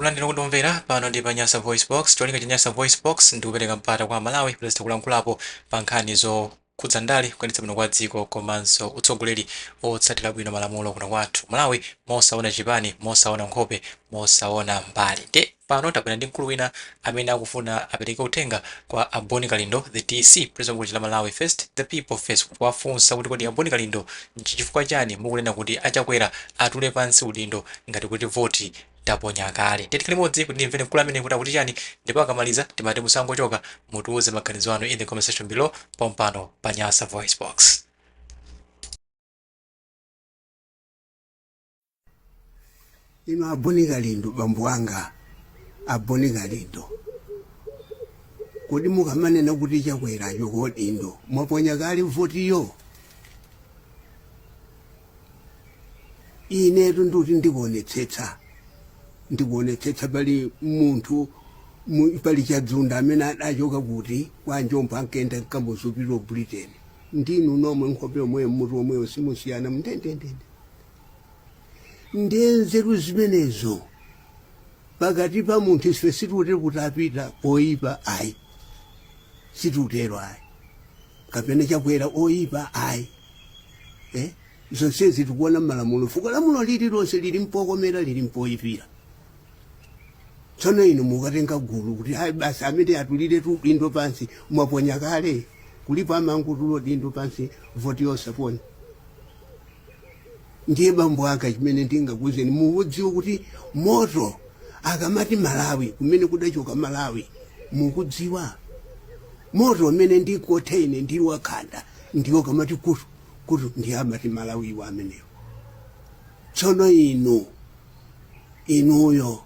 Kulandira potimvera pano ndi pa Nyasa VoiceBox. Cholinga cha Nyasa VoiceBox ndi kupereka mpata kwa Amalawi kuti azitha kulankhulapo pa nkhani zokhudza ndale, kuyendetsedwa bwino kwa dziko komanso utsogoleri otsatira bwino malamulo kuno kwathu ku Malawi mosaona chipani, mosaona nkhope, mosaona mbali. Ndiye pano tabwera ndi mkulu wina amene akufuna apereke uthenga kwa a Boni Kalindo, the DC, President wa bungwe lija la Malawi First, The People First, kuwafunsa kuti kodi a Boni Kalindo n'chifukwa chani mukunena kuti a Chakwera atule pansi udindo ngati kuti voti taponya kale ndiye tikhale limodzi kuti timvere mkulu ameneyu kuti akuti chani ndipo akamaliza timati osangochoka mutiuze maganizo anu in the comment section below pompano pa nyasa voice box ino a boni kalindo bambo anga a boni kalindo kodi mukamanena kuti chakwera achoke udindo mwaponya kale votiyo inetu ndikuti ndikuonetsetsa ndikuonetsetsa pali munthu mu- pali chadzunda amene adachoka kuti kwa njomvu ankaenda nkamuzu ku britain ndinu nomwe nkhope yomweyo mutu omweyo simusiyana mndendendende ndiye nzeru zimenezo pakati pa munthu ife sitikutero kuti a pita oyipa ayi sitikutero ayi kapena chakwera oyipa ayi eh? zonsezi tikuona mmalamulo fukwa lamulo lililonse lili mpokomera lili mpoyipira tsono inu mukatenga gulu kuti ayi basi amene atuliretu udindo pansi mwaponya kale kulipo amangotula udindo pansi voti yosaponya Ndiye bambo anga chimene ndingakuuzeni mukudziwa kuti moto akamati Malawi kumene kudachoka Malawi mukudziwa moto umene ndikothe ine ndili wakhanda ndiwo ukamati kutu kutu ndiye amati Malawi wa amenewo tsono inu inuyo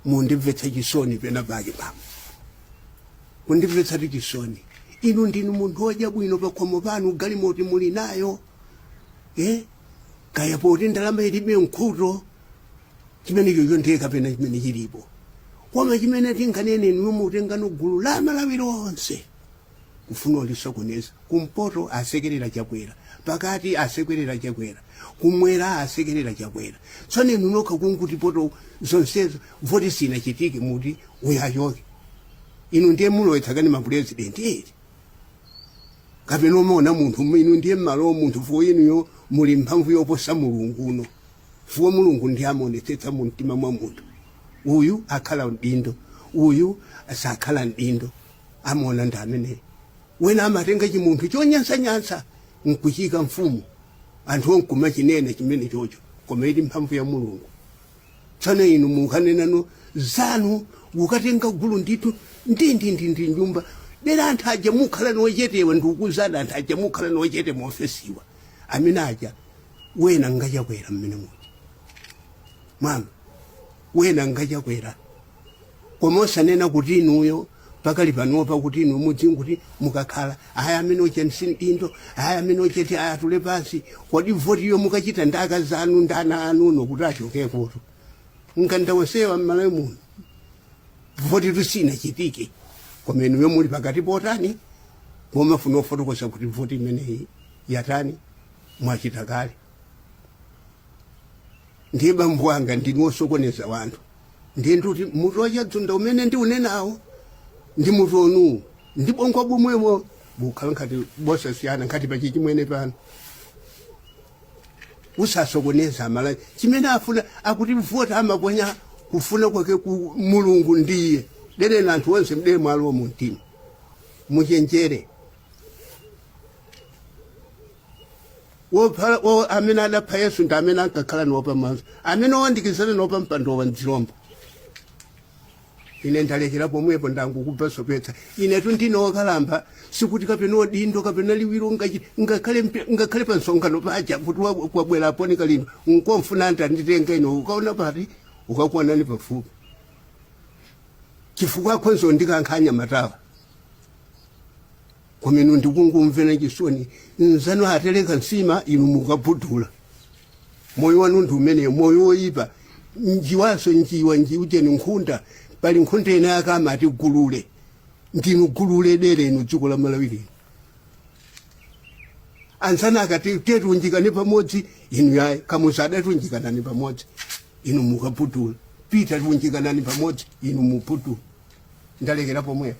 mundimvetsa chisoni pena pake bambo kundimvetsatu chisoni inu ndinu munthu wodya bwino pakhomo panu galimoti muli nayo eh kaya poti ndalama ilibe nkhuto chimene chocho ndiye kapena chimene chilipo koma chimene tinganene inu mutengano gulu la malawi lonse kufuna ulisokoneza kumpoto asekerera chakwera pakati asekerera chakwera kumwera asekerera chakwera tsono inu nokha kungoti poti zonsezo voti sinachitike muti uyachoke inu ndiye mulowetsa kani mapurezidenti eti kapena amaona munthu mu- inu ndiye mmalo munthu fukwa inuyo muli mphamvu yoposa mulungu inu fukwa mulungu ndiye amaonetsetsa mu mtima mwa munthu uyu akhala mdindo uyu sakhala mdindo amaona ndi ameneyo wena amatenga chimunthu chonyansanyansa nkuchiika mfumu anthu ankumachinena chimene chocho koma ili mphamvu ya mulungu tsano inu mukanenano zanu ukatenga gulu ndithu ndindindindi nyumba dera anthu aja mukhala niwachetewa ndikukuuzani anthu aja mukhala niwachete muofesiwa amene aja wena nga Chakwera mmene muja mama wena nga Chakwera koma osanena kuti inuyo pakali panopa kuti inu mudziwe kuti mukakhala aya amene ocha msindindo aya amene ochete aya atule pansi kodi votiyo mukachita ndi akazi anu ndi ana anu uno kuti achoke kuti mkanda wonsewa mmalawi muno votitu sinachitike koma inuyo muli pakati potani pomafuna ofotokoza kuti voti imeneyi yatani mwachita kale ndiye bambo wanga ndinu osokoneza wanthu ndiye ndikuti mutu wachadzunda umene ndiunenawo ndi mutu wanuwu ndi bongo bomwemo bukhala ngati bosasiyana ngati pachi chimwene pano usasokoneza amalawi chimene afuna akuti voti amaponya kufuna kwake ku mulungu ndiye dereni anthu onse mdere mwalowo mumtima muchenjere wopha wo amene adapha yesu ndi amene ankakhala nawo pamaso amene owandikizana nawo pampando wa mdzilombo ine ndalekera pomwepo ndangokubvasopetsa inetu ndine wokalamba sikuti kapena odindo kapena liwiro ngachi- ngakhale mpe- ngakhale pa msonkhano paja kuti wa- kwabwera Boni Kalindo nkomfuna ndanditenga ino ukaona pati ukakuonani pafupi chifukwa akhonzo ndikankhanya matawa komano ndikungumvera chisoni anzanu atereka nsima inu mukabhudula moyo wanu ndi umeneyo moyo woyipa njiwanso njiwa njiuteni nkhunda pali nkhunda ina yake amati gulule ndinu gulule dere inu dziko la malawi lino anzanu akati tiye tiunjikane pamodzi inu yayi Kamuzu adati unjikanani pamodzi inu mukabhudula Pita ati unjikanani pamodzi inu mubhudula ndalekera pomwepo